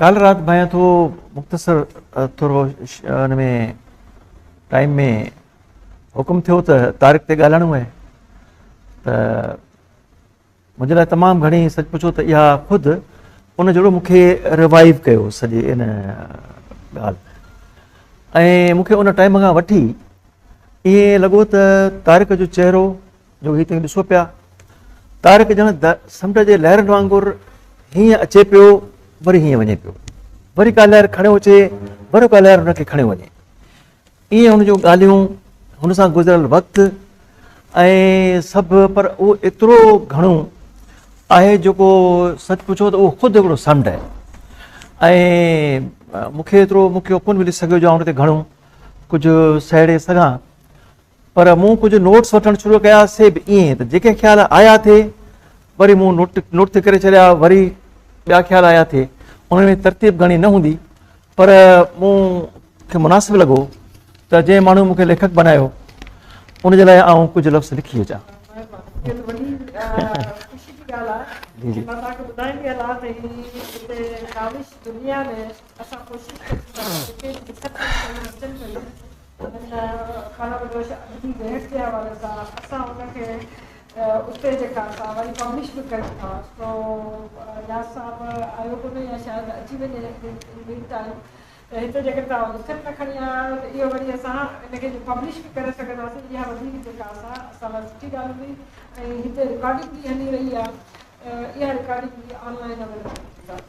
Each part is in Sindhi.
ڪالهه رات ڀانئيان ٿو مختصر ٿورو ان ۾ ٽائيم ۾ حڪم ٿيو ته تارڪ تي ڳالهائڻو آهي ته منهنجي لاء تمام گهڻي سچ پڇو ته اها خود ان جهڙو مون کي روائو ڪيو سڄي ان ڳالهه ۽ مون کي ان ٽائيم کان وٺي ائين لڳو ته تارڪ جو چهرو جو هي توهين ڏسو پيا، طارق ڄڻ سمنڊ جي لهرن وانگر هينئن اچي پيو، وري هينئن وڃي پيو. وري ڪا لهر کڻيو اچي، وري ڪا لهر هن کي کڻيو وڃي. ائين هن جون ڳالهيون، هن سان گذريل وقت ۽ سڀ پر اهو ايترو گهڻو آهي جيڪو سچ پڇو ته اهو خود هڪڙو سمنڊ آهي ۽ مون کي ايترو مون کي ڪونه ملي سگهيو جو آئون ان تي گهڻو ڪجهه سهيڙي سگهان پر مون ڪجهه نوٽس وٺڻ شروع ڪيا سي به ائين ته جيڪي خيال آيا ٿي وري مون نوٽ نوٽ تي ڪري ڇڏيا وري ٻيا خيال آيا ٿي انهن ۾ ترتيب گهڻي نه هوندي پر مون کي مناسب لڳو ته جنهن ماڻهو مون کي ليکڪ بنايو ان جي لاء آئون ڪجهه لفظ لکي اچان سندن کانا بدوش ادبي ويهڪ جي حوالي سان اسان ان کي اتي جيڪا اسان وري پبلش به ڪيون ٿا سو اياز صاحب آيو ڪونه يا شايد اچي وڃي ان مين ٽائيم ته هتي جيڪڏهن توهان لکت ۾ کڻي آيا آهيو ته اهو وري اسان ان کي پبلش به ڪري سگهنداسين اها وڌيڪ جيڪا اسان اسان لاء سٺي ڳالهه هوندي ۽ هتي رڪارڊنگ به هلي رهي آهي اها رڪارڊنگ به آن لائين اويليبل هوندي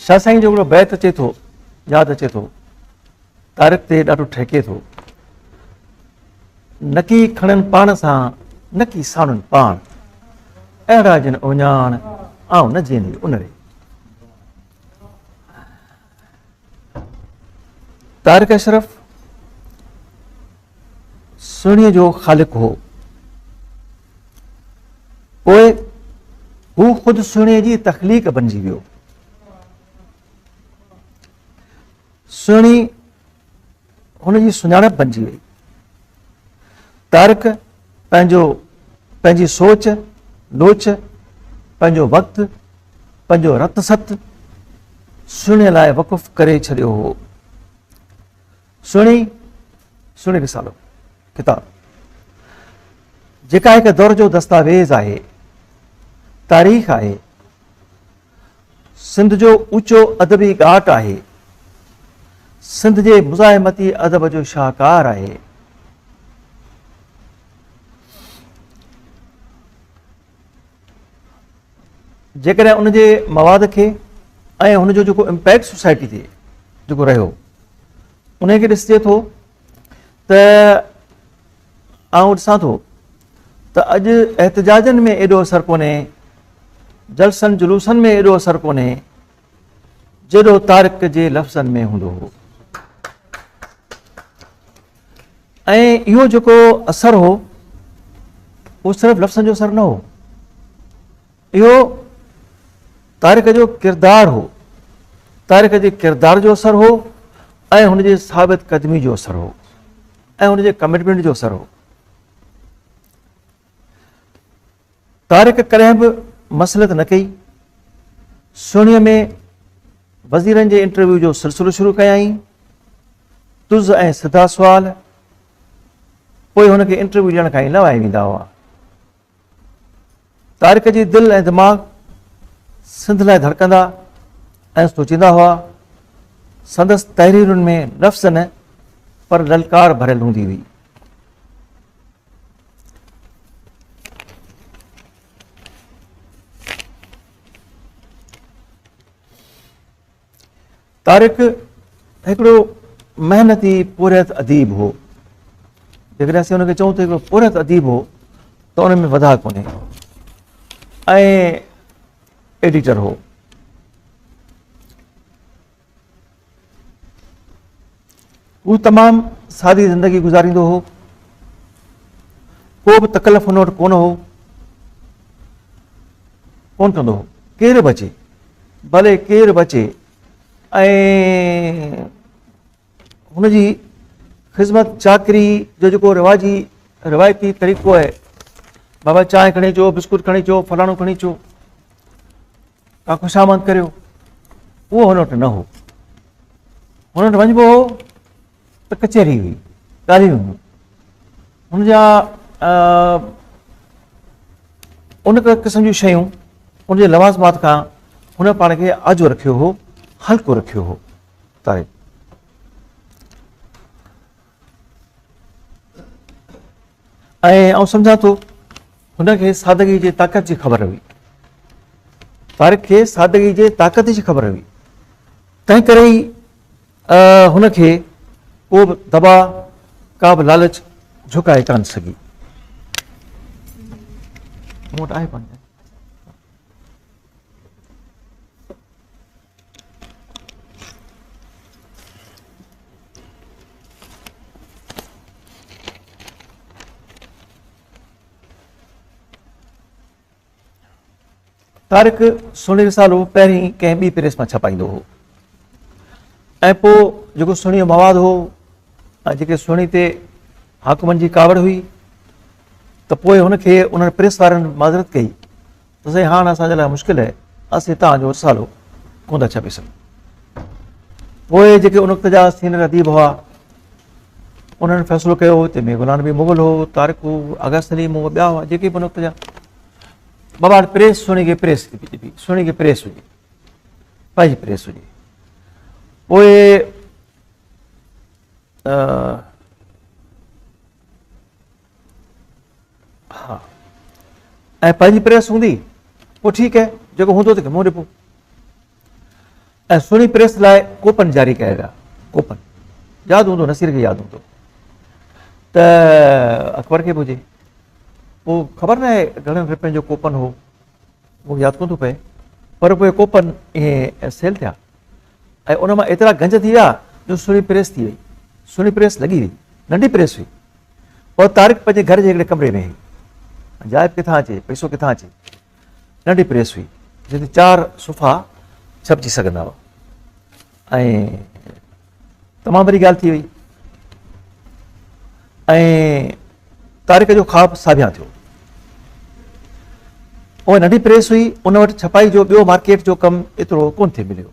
شاهه سائين جو هڪڙو بيت اچي ٿو ياد اچي ٿو تارڪ تي ڏاڍو ٺهڪي ٿو نڪي کڻن پاڻ سان نڪي ساڻن پاڻ اهڙا جن اوڃاڻ آئون نه جيندي ان ري طارق اشرف سهڻي جو خالق هو پوء هو خود سهڻي جي تخليق بنجي ويو سهڻي هن جي سڃاڻپ بنجي وئي. طارق پنهنجو پنهنجي سوچ لوچ، پنهنجو وقت، پنهنجو رت ست سهڻي لاء وقف ڪري ڇڏيو هو. سهڻي سهڻي رسالو ڪتاب جيڪا هڪ دور جو دستاويز آهي، تاريخ آهي، سنڌ جو اوچو ادبي ڳاٽ آهي. سنڌ جي مزاحمتي ادب جو شاهڪار آهي. جيڪڏهن ان جي مواد کي ۽ هن جو جيڪو امپيڪٽ سوسائٽي تي جيڪو رهيو ان کي ڏسجي ٿو ته آئون ڏسان ٿو ته اڄ احتجاجن ۾ ايڏو اثر ڪونهي جلسن جلوسن ۾ ايڏو اثر ڪونهي جيڏو طارق جي لفظن ۾ هوندو هو ۽ اهو جيڪو اثر هو اهو صرف لفظن جو اثر نه هو اهو تارڪ جو ڪردار هو. تارڪ جي ڪردار جو اثر هو ۽ هن جي ثابت قدمي جو اثر هو ۽ هن جي ڪمٽمينٽ جو اثر هو. تارڪ ڪڏهن به مسلط نه ڪئي. سهڻي ۾ وزيرن جي انٽرويو جو سلسلو شروع ڪيائين. تز ۽ سڌا سوال پوء هن کي انٽرويو ڏيڻ کان ئي لوائي ويندا هئا. طارق جي دل ۽ دماغ سنڌ لاء ڌڙڪندا ۽ سوچيندا هئا. سندس تحريرن ۾ نفس نه پر للڪار ڀريل هوندي هئي. طارق هڪڙو محنتي پورهيت اديب هو جيڪڏهن اسين هن کي چئون ته هڪڙو پورهيت اديب هو ته ان ۾ وڌا ڪونهي ۽ ايڊيٽر هو هو تمام سادي زندگي گذاريندو هو. ڪو به تڪلف هن وٽ ڪونه هو. ڪونه ڪندو هو. ڪير به اچي ڀلي ڪير به اچي ۽ هن جي خدمت چاڪري جو جيڪو رواجي روايتي طريقو آهي بابا چانهه کڻي اچو بسڪوٽ کڻي اچو فلاڻو کڻي اچو ڪا خوشامد ڪريو اهو هن وٽ نه هو هن وٽ وڃبو هو ته ڪچهري هئي ڳالهيون هيون ان جا ان قسم جون شيون ان جي لوازمات کان هن پاڻ کي آجو رکيو هو هلڪو رکيو هو ۽ آئون سمجهان ٿو هن کي سادگي جي طاقت جي خبر هئي طارق کي سادگي جي طاقت جي خبر هئي تنهن ڪري ئي هن کي ڪو به دبا ڪا به لالچ جھڪائي ڪان سگهي موٽ آهي پنهنجا طارق سهڻي رسالو پهرين ڪنهن ٻي پريس مان ڇپائيندو هو ۽ پوء جيڪو سهڻي جو مواد هو ۽ جيڪي سهڻي تي حاڪمن جي ڪاوڙ هئي ته پوء هن کي انهن پريس وارن معذرت ڪئي ته سائين هاڻ اسان جي لاء مشڪل آهي اسين توهان جو رسالو ڪونه ٿا ڇپي سگهون پوء جيڪي ان وقت جا سينئر اديب هئا انهن فيصلو ڪيو هو تنهن ۾ نبي مغل هو طارق هو آغا سليم هو ٻيا هئا جيڪي به ان وقت جا بابا پريس سهڻي کي پريس ڏبي سهڻي کي پريس هجي پنهنجي پريس هجي پوء ها ۽ پنهنجي پريس هوندي پوء ٺيڪ هي جيڪو هوندو تنهن کي منهن ڏبو ۽ سهڻي پريس لاء ڪوپن جاري ڪيا ويا ڪوپن ياد هوندو نصير کي ياد هوندو ته اڪبر کي به هجي پوء خبر نه آهي گهڻن رپين جو ڪوپن هو مون کي ياد ڪون ٿو پئي پر پوء ڪوپن ائين سيل ٿيا ۽ ان مان ايترا گنج ٿي ويا جو سنهي پريس ٿي وئي. سنهي پريس لڳي وئي. ننڍي پريس هئي. پوء طارق پنهنجي گهر جي هڪڙي ڪمري ۾ هئي. جاء ڪٿان اچي، پئسو ڪٿان اچي. ننڍي پريس هئي، جنهن تي چار صفحا ڇپجي سگهندا هئا. ۽ تمام وڏي ڳالهه ٿي وئي. ۽ طارق جو خواب ساڀيان ٿيو. اها ننڍي پريس هئي، ان وٽ ڇپائي جو ٻيو مارڪيٽ جو ڪم ايترو ڪونه ٿي مليو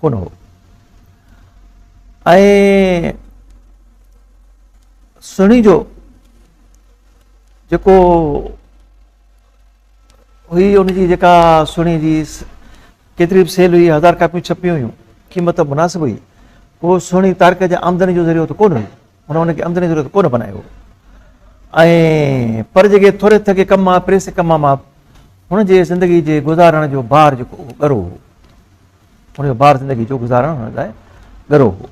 ڪونه هو ۽ سهڻي جو جيڪو هئي ان جي جيڪا سهڻي جي ڪيتري به سيل هئي، هزار ڪاپيون ڇپيون هيون، قيمت به مناسب هئي. اهو سهڻي تارڪ جي آمدني جو ذريعو ته ڪونه هيو. هن ان کي آمدني جو ذريعو ته ڪونه بنايو هو. ۽ پر جيڪي ٿوري ٿڪي ڪم مان، پريس ڪم مان، هن جي زندگي جي گذارڻ جو بار جيڪو اهو ڳرو هو. هن جو بار زندگي جو گذارڻ هن لاء ڳرو هو.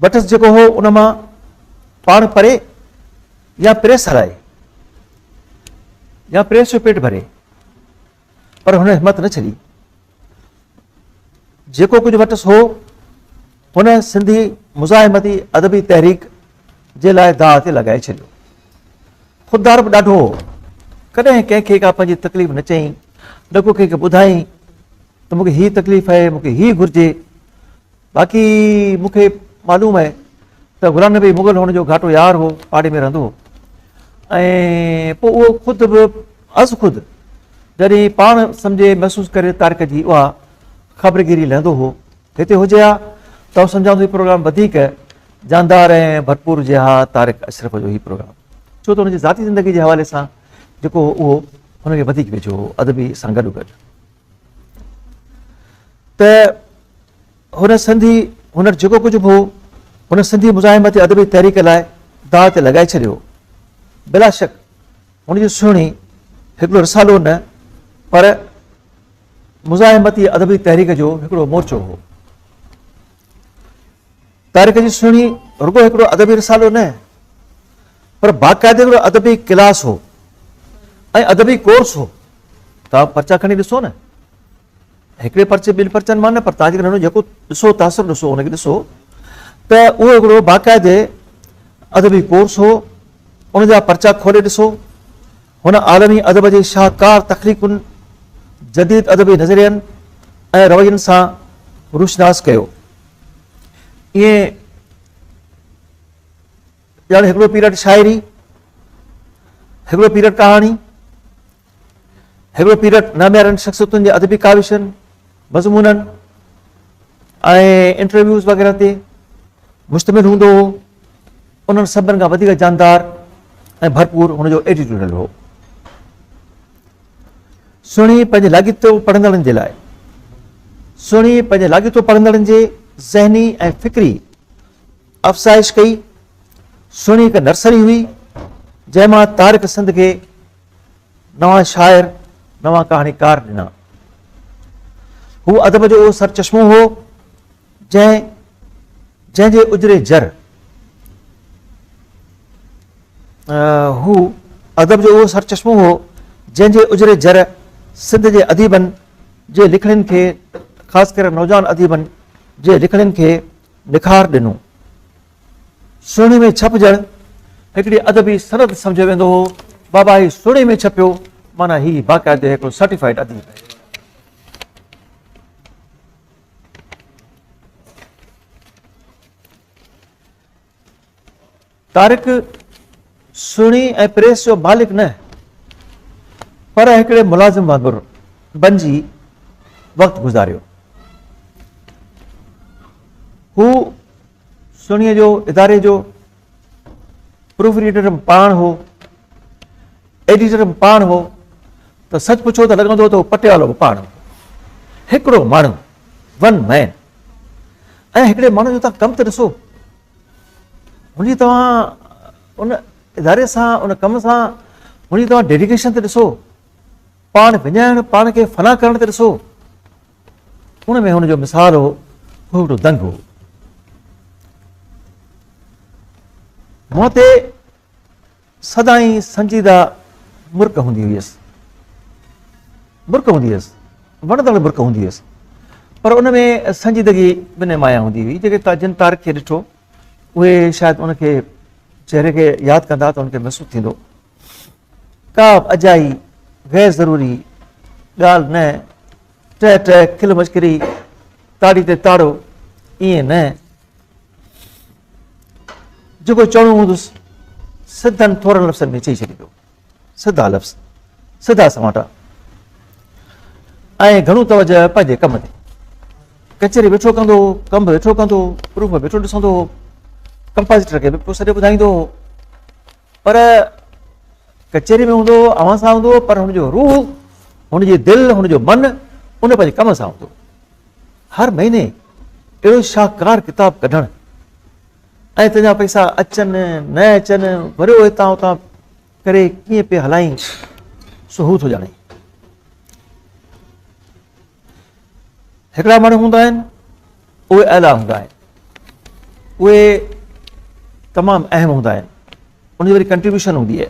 بٽس جيڪو هو ان مان پاڻ پري يا پريس هلائي يا پريس جو پيٽ ڀري. پر هن همت نه ڇڏي. جيڪو ڪجهه وٽس هو، هن سنڌي مزاحمتي ادبي تحريڪ جي لاء داء تي لڳائي ڇڏيو. خوددار به ڏاڍو هو. ڪڏهن ڪنهن کي ڪا پنهنجي تڪليف نه چيائين، نه ڪو ڪنهن کي ٻڌائين ته مون کي هي تڪليف آهي، مون کي هي گهرجي. باقي مون کي معلوم آهي ته غلام نبي مغل هن جو گهاٽو يار هو، پاڙي ۾ رهندو هو ۽ پوء اهو خود به از خود جڏهن پاڻ سمجهي محسوس ڪري تارڪ جي اها خبرگيري لهندو هو. هتي هجي ها ته آئون سمجهان ٿو هي پروگرام وڌيڪ جاندار ۽ ڀرپور هجي ها تارڪ اشرف جو هي پروگرام ڇو ته هن جي ذاتي زندگي جي حوالي سان جيڪو هو اهو هن کي وڌيڪ ويجهو هو ادبي سان گڏوگڏ ته هن سنڌي هنر جيڪو ڪجهه به هو، هن سنڌي مزاحمت يا ادبي تحريڪ لاء داء تي لڳائي ڇڏيو هو. بلا شڪ هن جون سهڻي هڪڙو رسالو نه پر مزاحمت يا ادبي تحريڪ جو هڪڙو مورچو هو. تارڪ جي سهڻي رڳو هڪڙو ادبي رسالو نه پر باقاعده هڪڙو ادبي ڪلاس هو ۽ ادبي ڪورس هو. توهان پرچا کڻي ڏسو نه. هڪڙي پرچي ٻن پرچن مان نه پر تاجڪن هنو جيڪو ڏسو تاثر ڏسو ان کي ڏسو ته اهو هڪڙو باقاعدي ادبي ڪورس هو ان جا پرچا کولي ڏسو هن عالمي ادب جي شاهڪار تخليقن جديد ادبي نظرين ۽ روين سان روشناس ڪيو ائين ڄڻ هڪڙو پيريڊ شاعري هڪڙو پيريڊ ڪهاڻي هيرو پيرٽ ناميارن شخصيتن جي ادبي ڪاوشن، مضمونن ۽ انٽرويوز وغيره تي مشتمل هوندو هو. انهن سڀن کان وڌيڪ جاندار ۽ ڀرپور هن جو ايڊيٽوريل هو. سهڻي پنهنجي لاڳيتو پڙهندڙن جي لاء سهڻي پنهنجي لاڳيتو پڙهندڙن جي ذهني ۽ فڪري افزائش ڪئي. سهڻي هڪ نرسري هئي، جنهن مان طارق سنڌ کي نوان شاعر، نوان ڪهاڻيڪار ڏنا. هو ادب جو اهو سرچشمو هو، جنهن جنهن جي اجري جر هو ادب جو اهو سرچشمو هو، جنهن جي اجري جر سنڌ جي اديبن جي لکڻين کي خاص ڪري نوجوان اديبن جي لکڻين کي نکار ڏنو. سهڻي ۾ ڇپجڻ هڪڙي ادبي سند سمجهيو ويندو هو. بابا هي سهڻي ۾ ڇپيو، معنيٰ هي باقاعدي هڪڙو سرٽيفائيڊ اديب آهي. طارق سهڻي ۽ پريس جو مالڪ نه پر هڪڙي ملازم وانگر بنجي وقت گذاريو. هو سهڻي جو اداري جو پروف ريڊر به پاڻ هو، ايڊيٽر به پاڻ هو ته سچ پڇو ته لڳندو ته هو پٽيوالو به پاڻ هو. هڪڙو ماڻهو، ون مين ۽ هڪڙي ماڻهو جو تان ڪم ته ڏسو. هن جي توهان ان اداري سان ان ڪم سان هن جي توهان ڊيڊيڪيشن تي ڏسو پاڻ وڃائڻ پاڻ کي فنا ڪرڻ تي ڏسو ان ۾ هن جو مثال هو هو هڪڙو دنگ هو منهن تي سدائين سنجيده مرڪ هوندي هيس. مرڪ هوندي هيس. وڻندڙ مرڪ هوندي هيس. پر ان ۾ سنجيدگي به نمايان هوندي هئي. جيڪي جن طارق کي ڏٺو اهي شايد ان کي چهري کي ياد ڪندا ته ان کي محسوس ٿيندو ڪا به اجائي غير ضروري ڳالهه نه ٽه ٽه کل مشڪري تاڙي تي تاڙو ائين نه جيڪو چوڻو هوندس سڌن ٿورن لفظن ۾ چئي ڇڏيندو سڌا لفظ سڌا سماٽا ۽ گهڻو توجه پنهنجي ڪم تي ڪچهري ويٺو ڪندو هو ڪم به ويٺو ڪندو هو پروف به ويٺو ڏسندو هو ڪمپازيٽر کي به پوء سڏي ٻڌائيندو هو پر ڪچهري ۾ ہوندا اوهان سان ہوندا پر هن جو روح هن جي دل هن جو من ان پنهنجي ڪم سان هوندو هر مهيني اهڙو شاهڪار ڪتاب ڪڍڻ ۽ تنهنجا پئسا اچن نه اچن وريو هتان هتان ڪري ڪيئن پي هلائين سو هو ٿو ڄاڻي هڪڙا ماڻهو هوندا آهن اهي اعليٰ هوندا آهن اهي تمام اهم هوندا آهن ان جي وري ڪنٽريبيوشن هوندي آهي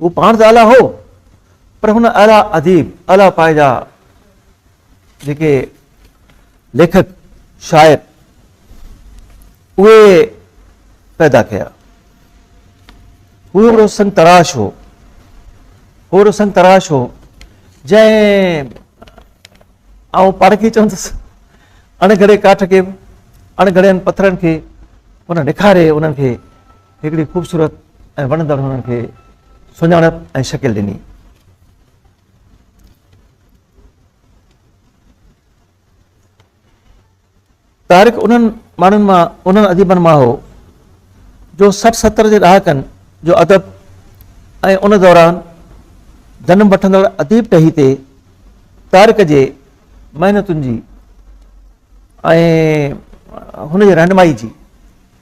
هو پاڻ ته اعليٰ هو پر هن اعليٰ اديب، اعليٰ پائي جا جيڪي ليکڪ، شاعر اهي پيدا ڪيا. هو هڪڙو سنگ تراش هو. هو هڪڙو سنگ تراش هو جنهن آئون پارکي چوندس اڻگھڙي ڪاٺ کي اڻگھڙين پٿرن کي هن نکاري انهن کي هڪڙي خوبصورت ۽ وڻندڙ هنن کي سڃاڻپ ۽ شڪل ڏني. طارق انهن ماڻهن مان انهن اديبن مان هو جو سٺ ستر جي ڏهاڪن جو ادب ۽ ان دوران جنم وٺندڙ اديب ٽهي تي طارق جي محنتن جي ۽ هن جي رهنمائي جي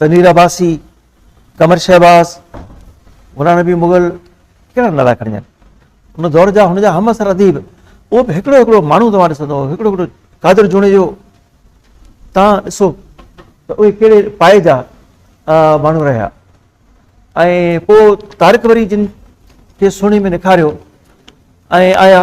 تنوير عباسي، قمر شهباز، غلام نبي مغل ڪهڙا نالا کڻي آهن ان دور جا هن جا هم اثر اديب اهو به هڪڙو هڪڙو ماڻهو توهان ڏسندو هڪڙو هڪڙو قادر جوڻيجو تان ڏسو ته اهي کي پائي جا ماڻهو رهيا ۽ پوء تارڪ وري جن کي سهڻي ۾ نکاريو ۽ آيا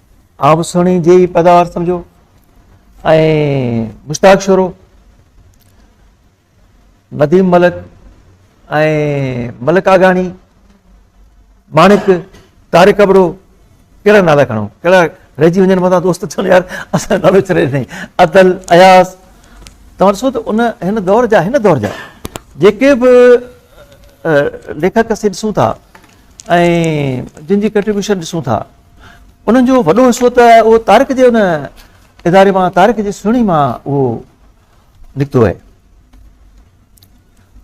آئون به سهڻي جي ئي پيداوار سمجهو ۽ مشتاق شورو نديم ملڪ ۽ ملڪ آگاڻي ماڻڪ طارق ابڙو کهڙا نالا کڻو کهڙا رهجي وڃن مٿان دوست چون يار اسان نالو چري سائين عدل اياز توهان ڏسو ته ان هن دور جا هن دور جا جيڪي به ليکڪ اسين ڏسون ٿا ۽ جن جي ڪنٽريبيوشن ڏسون ٿا انهن جو وڏو حصو ته اهو طارق جي ان اداري مان طارق جي سهڻي مان اهو نڪتو آهي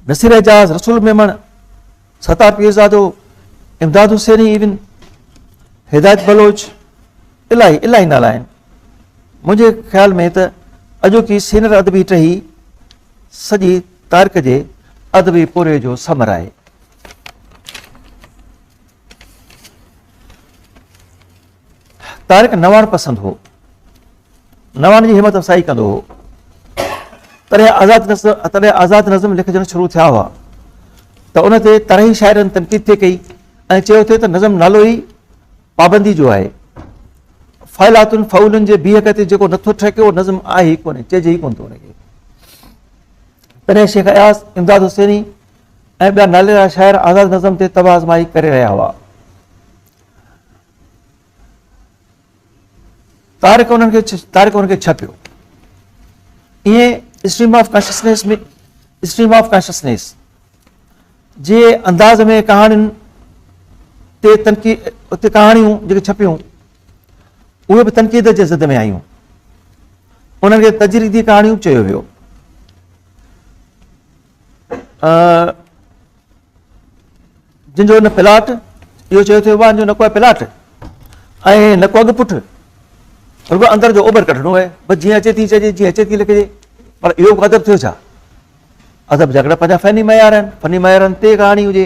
نصير اعجاز رسول ميمڻ ستار پيرزادو امداد حسيني ايون هدايت بلوچ الاهي الاهي نالا آهن منهنجي خيال ۾ ته اڄوڪي سينر ادبي ٽهي سڄي تارڪ جي ادبي پوري جو ثمر آهي طارق نواڻ پسند هو نواڻ جي همت افسائي ڪندو هو تڏهن آزاد نظم تڏهن آزاد نظم لکجڻ شروع ٿيا هئا ته ان تي طرحي شاعرن تنقيد ٿي ڪئي ۽ چيو ٿي ته نظم نالو ئي پابندي جو آهي فائلاتن فعولن جي بيهڪ تي جيڪو نٿو ٺهڪي اهو نظم آهي ئي ڪونهي چئجي ئي ڪون ٿو ان کي تڏهن شيخ اياز امداد حسيني ۽ ٻيا ناليرا شاعر آزاد نظم تي طبع آزمائي ڪري رهيا هئا. تارڪ انهن کي تارڪ انهن کي ڇپيو. ائين stream of consciousness ۾ stream of consciousness جي انداز ۾ ڪهاڻين تي تنقيد اتي ڪهاڻيون جيڪي ڇپيون اهي به تنقيد جي ضد ۾ آيون انهن کي تجريدي ڪهاڻيون چيو ويو جن جو نه پلاٽ اهو چيو ٿيو آهي جو نه ڪوئي پلاٽ ۽ نه ڪوئي پٺ رڳو اندر جو اوڀر ڪڍڻو آهي بس جيئن اچي ٿي چئجي جيئن اچي ٿي لکجي پر اهو ادب ٿيو ڇا ادب جا ڪڙا پنهنجا فني معيار آهن فني معيارن تي ڪهاڻي هجي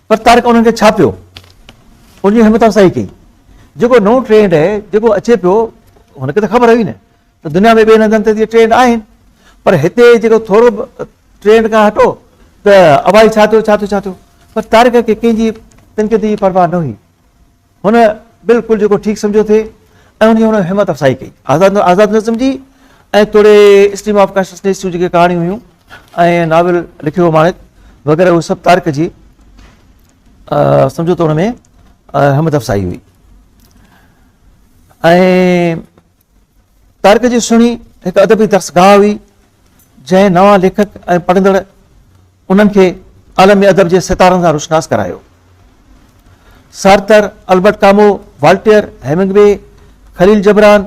پر طارق انهن کي ڇا پيو ان جي همت افزائي ڪئي. جيڪو نئون ٽرينڊ اهي جيڪو اچي پيو هن کي ته خبر هئي نه ته دنيا ۾ ٻين هنڌن تي ته اهي ٽرينڊ آهن پر هتي جيڪو ٿورو به ٽرينڊ کان هٽو ته ابا هي ڇا ٿيو ڇا ٿيو ڇا ٿيو پر طارق کي ڪنهن جي تنقيد جي پرواهه نه هئي. هن بلڪل جيڪو ٺيڪ سمجهيو ٿي ۽ انهيء هن همت افزائي ڪئي. آزاد آزاد نظم جي ۽ توڙي اسٽريم آف ڪانشسنيس جون جيڪي ڪهاڻيون هيون ۽ ناول لکيو هو ماڻڪ وغيره اهو سڀ تارڪ جي سمجهو ته ان ۾ همت افزائي هئي ۽ تارڪ جي سهڻي هڪ ادبي درسگاهه هئي، جنهن نوان ليکڪ ۽ پڙهندڙ انهن کي عالمي ادب جي ستارن سان روشناس ڪرايو. Sartre, Albert Camus, Voltaire, Hemingway, Khalil Gibran,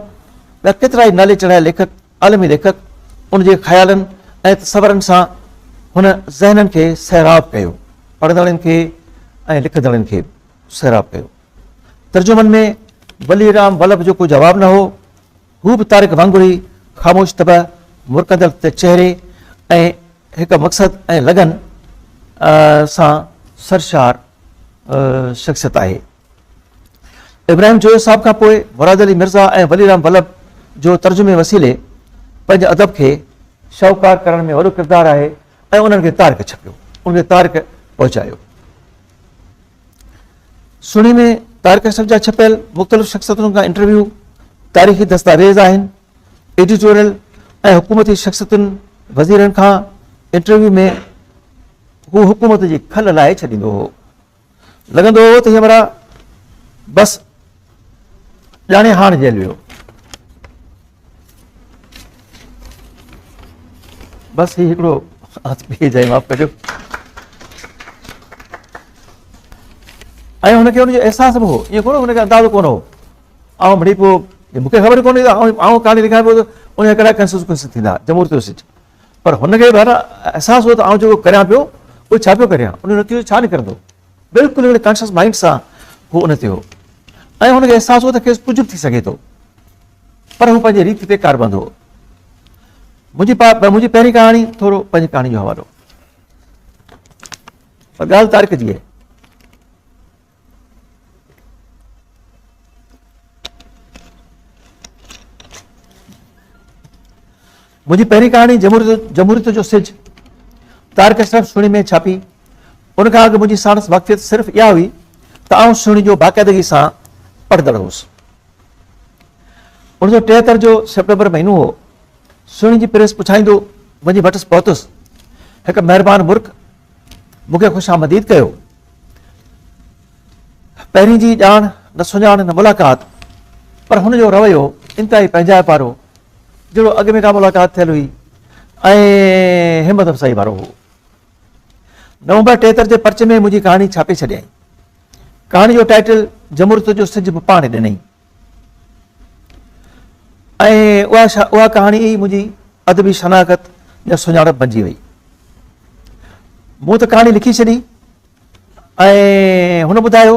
ٻيا ڪيترائي نالي چڙهايل ليکڪ، عالمي ليکڪ، ان جي خيالن ۽ تصورن سان هن ذهنن کي سيراب ڪيو، پڙهندڙن کي ۽ لکندڙن کي به سيراب ڪيو. ترجمن ۾ ولي رام ولڀ جو ڪو جواب نه هو. هو به طارق وانگر ئي خاموش طبع، مرڪندڙ چهري ۽ هڪ مقصد ۽ لگن سان سرشار شخصيت آهي. ابراهيم جويو صاحب کان پوء مراد علي مرزا ۽ ولي رام ولڀ جو ترجمي وسيلي پنهنجي ادب کي شاهوڪار ڪرڻ ۾ وڏو ڪردار آهي ۽ انهن کي طارق ڇپيو، انهن کي طارق پهچايو. سھڻي ۾ طارق اشرف جا ڇپيل مختلف شخصيتن کان انٽرويو، تاريخي دستاويز آھن، ايڊيٽوريل ۽ حڪومتي شخصيتن، وزيرن کان انٽرويو ۾ ھو حڪومت جي کل لاھي ڇڏيندو ھو. لڳندو ھو ته ھي ھمراھ بس ڄاڻي هاڻ جيل ويو بس هي هڪڙو هٿ پي جائي معاف ڪجو ۽ هن کي هن جو احساس به هو ائين ڪونه هن کي اندازو ڪونه هو آئون مڙي پيو مون کي خبر ڪونهي آئون ڪهاڻي لکان پيو ان جا ڪهڙا ڪنسيڪوئنس ٿيندا جمهوريت جو سيٽ پر هن کي بهر احساس هو ته آئون جيڪو ڪريان پيو اهو ڇا پيو ڪريان ان جو نتيجو ڇا نڪرندو بلڪل هڪڙي ڪانشس مائينڊ سان هو ان تي هو ۽ هن کي احساس هو ته کيس ڪجهه به ٿي سگهي ٿو پر هو پنهنجي ريت تي ڪاربند هو. منهنجي پا منهنجي پهرين ڪهاڻي ٿورو پنهنجي ڪهاڻي جو حوالو پر ڳالهه تارڪ جي آهي. منهنجي پهرين ڪهاڻي جمهوريت جو سج طارق اشرف سهڻي ۾ ڇاپي. ان کان اڳ منهنجي ساڻس واقفيت صرف اها هئي ته آئون سهڻي جو باقاعدگي سان پڙهندڙ هوس. اڻ سؤ ٽيهتر جو سيپٽمبر مهينو هو. سهڻي جي پريس پڇائيندو وڃي وٽس پهتس. هڪ مهربان مرڪ مون کي خوش آمديد ڪيو. پهرين جي ڄاڻ نه سڃاڻ نه ملاقات پر هن جو رويو انتهائي پنهنجائپ وارو جهڙو اڳ ۾ ڪا ملاقات ٿيل هئي ۽ همت افزائي وارو هو. نومبر ٽيهتر جي پرچي ۾ منهنجي ڪهاڻي ڇاپي ڇڏيائين. ڪهاڻي جو ٽائيٽل جمهوريت جو سج به پاڻ ڏنئي. ۽ اها ڪهاڻي ئي منهنجي ادبي شناخت يا سڃاڻپ بنجي وئي. مون ته ڪهاڻي لکي ڇڏي ۽ هن ٻڌايو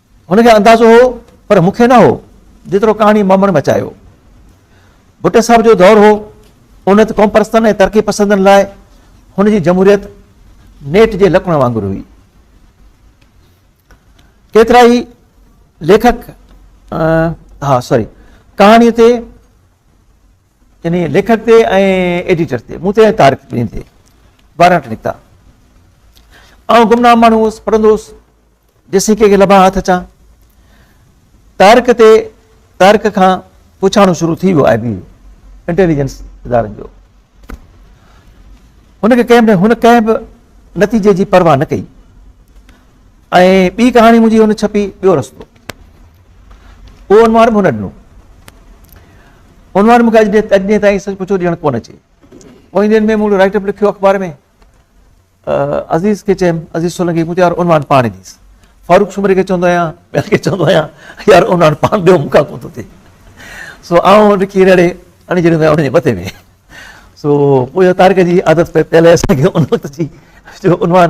هن کي اندازو هو پر مون کي نه هو جيترو ڪهاڻي مامڻ مچايو. ڀٽي صاحب جو دور هو ان وقت قومپرستن ۽ ترقي پسندن لاء هن جي جمهوريت نيٽ جي لڪڻ وانگر هئي. ڪيترائي ليکڪ ها سوري ڪهاڻي تي يعني ليکڪ تي ۽ ايڊيٽر تي مون تي تارڪ ٻين تي وارنٽ نڪتا آئون گمنام ماڻهو هوس پڙهندو هوس جيسين ڪنهن کي لڀان هٿ اچان. طارق تي طارق کان پڇاڻو شروع ٿي ويو آء بي انٽيليجنس ادارن جو. هن کي ڪنهن هن ڪنهن به نتيجي جي پرواهه نه ڪئي ۽ ٻي ڪهاڻي منهنجي هن ڇپي ٻيو رستو. اهو عنوان به هن ڏنو. عنوان مونکي اڄ ڏينهن تائين سچ پڇو ڏيڻ ڪونه اچي. پوئين ڏينهن ۾ مون رائٽ اپ لکيو اخبار ۾. عزيز کي چيم، عزيز سولنگي، مون چيو يار عنوان پاڻ ئي ڏيس. فاروق سومري کي چوندو آهيان، ٻين کي چوندو آهيان، يار عنوان پاڻ ڏيو مون کان ڪونه ٿو ٿئي. سو آئون رکي رڙي اڻي جهڙيون ڪيائون ان جي مٿي ۾. سو پوء اها طارق جي عادت پئي پيل هئي اسان کي ان وقت جي جو عنوان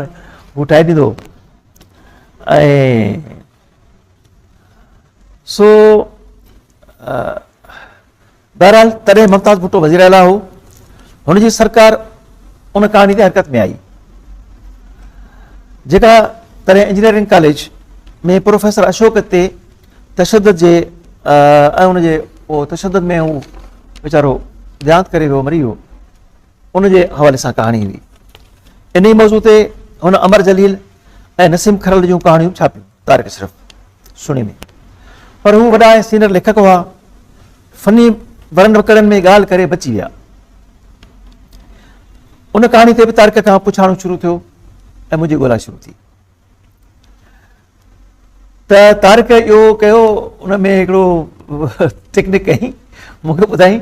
هو ٺاهي ڏيندو هو. ۽ سو بهرحال تڏهن ممتاز ڀٽو وزيراعليٰ هو، هن جي سرڪار ان ڪهاڻي تي حرڪت ۾ آئي، جيڪا تڏهن انجنيئرنگ ڪاليج ۾ پروفيسر اشوڪ تي تشدد جي ۽ ان جي تشدد ۾ هو ويچارو ديانت ڪري ويو مري ويو ان جي حوالي سان ڪهاڻي هئي انهي موضوع تي هن امر جليل ۽ نسيم کرل جون ڪهاڻيون ڇاپيون طارق اشرف سنيمي پر هو وڏا ۽ سينئر ليکڪ هئا، فني ورن وڪڙن ۾ ڳالهه ڪري بچي ويا. ان ڪهاڻي تي به طارق کان پڇاڻو شروع ٿيو ۽ منهنجي ڳولا شروع ٿي. ته طارق اهو ڪيو ان ۾ هڪڙو ٽيڪنڪ ڪئي مونکي ٻڌائي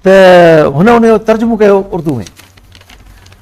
ته هن ان جو ترجمو ڪيو اردو ۾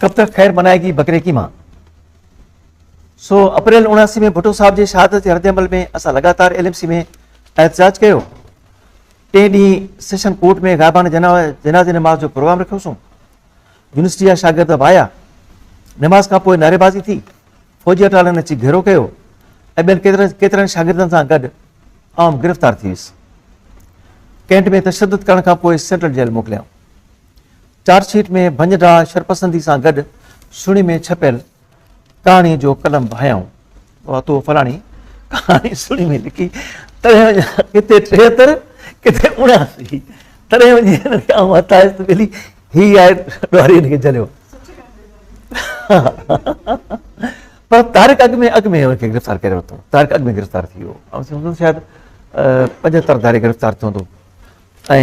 ڪب تڪ خير منائي گي بڪري ڪي مان؟ سو اپريل اڻاسي ۾ ڀٽو صاحب جي شهادت جي ردعمل ۾ اسان لڳاتار ايل ايم سي ۾ احتجاج ڪيو. ٽئين ڏينهن سيشن ڪورٽ ۾ غائبانه جنازي نماز جو پروگرام رکيوسون. يونيورسٽي جا شاگرد به آيا. نماز کان پوء نعريبازي ٿي. فوجي اٽالن اچي گهيرو ڪيو ۽ ٻين ڪيترن شاگردن سان گڏ آئون گرفتار ٿي ويس. ڪينٽ ۾ تشدد ڪرڻ کان پوء سينٽرل جيل موڪليائون. چارج شيٽ ۾ ڀڃ ڊاهه شرپسندي سان گڏ سڻي ۾ ڇپيل ڪهاڻي جو قلم به هنيائون. واهه تو فلاڻي ڪهاڻي سڻي ۾ لکي تڙهين وڃان ڪٿي ٽيهتر ڪٿي اڻياسي تڙهين وڃي هن کي آئون هٿائيس ته ٻلي هي آهي ڏوهاري هن کي جهليو پر طارق اڳ ۾ اڳ ۾ هن کي گرفتار ڪري ورتو طارق اڳ ۾ گرفتار ٿي ويو شايد پنجهتر ڌاري گرفتار ٿيو هوندو ۽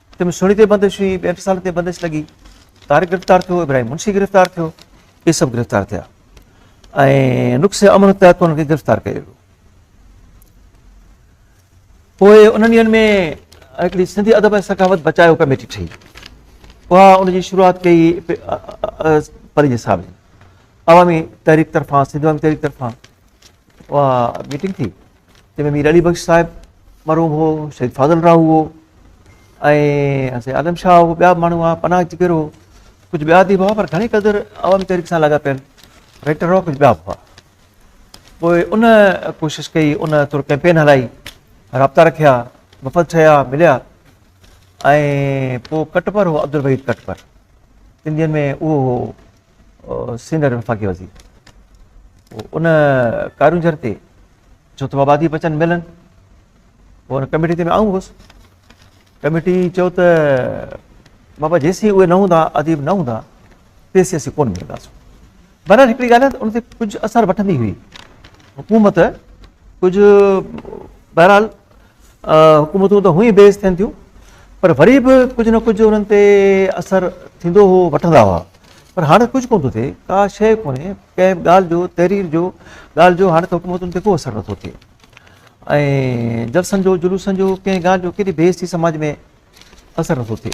تن ۾ سهڻي تي بندش هئي، ٻين ٽي سالن تي بندش لڳي، طارق گرفتار ٿيو، ابراهيم منشي گرفتار ٿيو، اهي سڀ گرفتار ٿيا ۽ نقص امن تحت انهن کي گرفتار ڪيو ويو. پوء انهن ڏينهن ۾ هڪڙي سنڌي ادب ۽ ثقافت بچايو ڪميٽي ٺهي، اها ان جي شروعات ڪئي پرينجي صاحب جي عوامي تحريڪ طرفان، سنڌ عوامي تحريڪ طرفان. اها ميٽنگ ٿي جنهن ۾ مير علي بخش صاحب مرحوم هو شهيد فاضل راهو هو ۽ سيد عالم شاهه هو ٻيا ماڻهو هئا پناهه جگر هو ڪجهه ٻيا اديب هئا پر گهڻي قدر عوامي تحريڪ سان لڳا پيل رائٽر هئا ڪجهه ٻيا به هئا پوء ان ڪوشش ڪئي ان تر ڪيمپين هلائي رابطا رکيا وفد ٺهيا مليا ۽ پوء ڪٽپر هو عبدالوحيد ڪٽپر سنڌين ۾ اهو هو سينئر وفاقي وزير ان ڪارونجهر تي ڇو ته آبادي بچن ملن پوء ان ڪميٽي تي آئون هوس ڪميٽي چيو ته بابا جيسي اهي نه هوندا اديب نه هوندا تيسي اسين ڪون ملنداسون بهرحال هڪڙي ڳالهه ان تي ڪجهه اثر وٺندي هئي حڪومت ڪجهه بهرحال حڪومتون ته هونئن ئي بي عزت ٿين ٿيون پر وري به ڪجهه نه ڪجهه انهن تي اثر ٿيندو هو وٺندا هئا پر هاڻ ڪجهه ڪونه ٿو ٿئي ڪا شيء ڪونهي ڪنهن به ڳالهه جو تحرير جو ڳالهه جو هاڻ ته حڪومتن تي ڪو اثر نه ٿو ٿئي ۽ جلسن جو جلوسن جو ڪنهن ڳالهه جو ڪيڏي بي عزتي سماج ۾ اثر نه ٿو ٿئي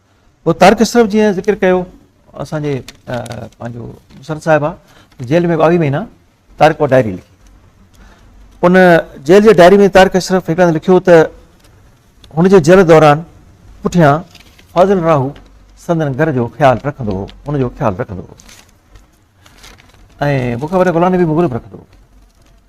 پوء طارق اشرف جيئن ذڪر ڪيو اسان جي پنهنجو مسرت صاحب آ جيل ۾ ٻاويهه مهينا طارق وٽ ڊائري لکي ان جيل جي ڊائري ۾ طارق اشرف هڪ هنڌ لکيو ته هن جي جيل دوران پٺيان فاضل راهو سندن گهر جو خيال رکندو هو ان جو خيال رکندو هو ۽ مون کي وڏا غلام نبي مغرب رکندو هو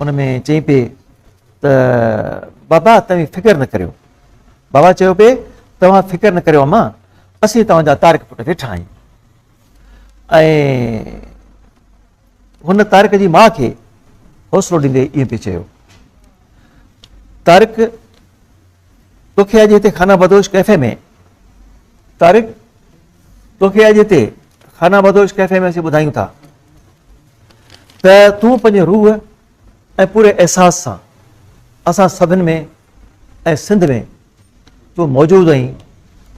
ان ۾ چئي پئي ته بابا توهين فڪر نه ڪريو. بابا چيو پئي توهان فڪر نه ڪريو امان اسين توهان جا طارق پٽ ويٺا آهيون. ۽ هن طارق جي ماء کي حوصلو ڏيندي ائين پئي چيو طارق توکي اڄ هتي خانه بدوش ڪيفي ۾ طارق توکي اڄ هتي خانه بدوش ڪيفي ۾ اسين ٻڌايون ٿا ته تون پنهنجي روح ۽ پوري احساس سان اسان سڀن ۾ ۽ سنڌ ۾ تون موجود آهين،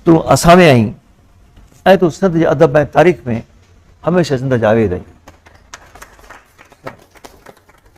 تون اسان ۾ آهين ۽ تون سنڌ جي ادب ۽ تاريخ ۾ هميشه زنده جاويد آهين.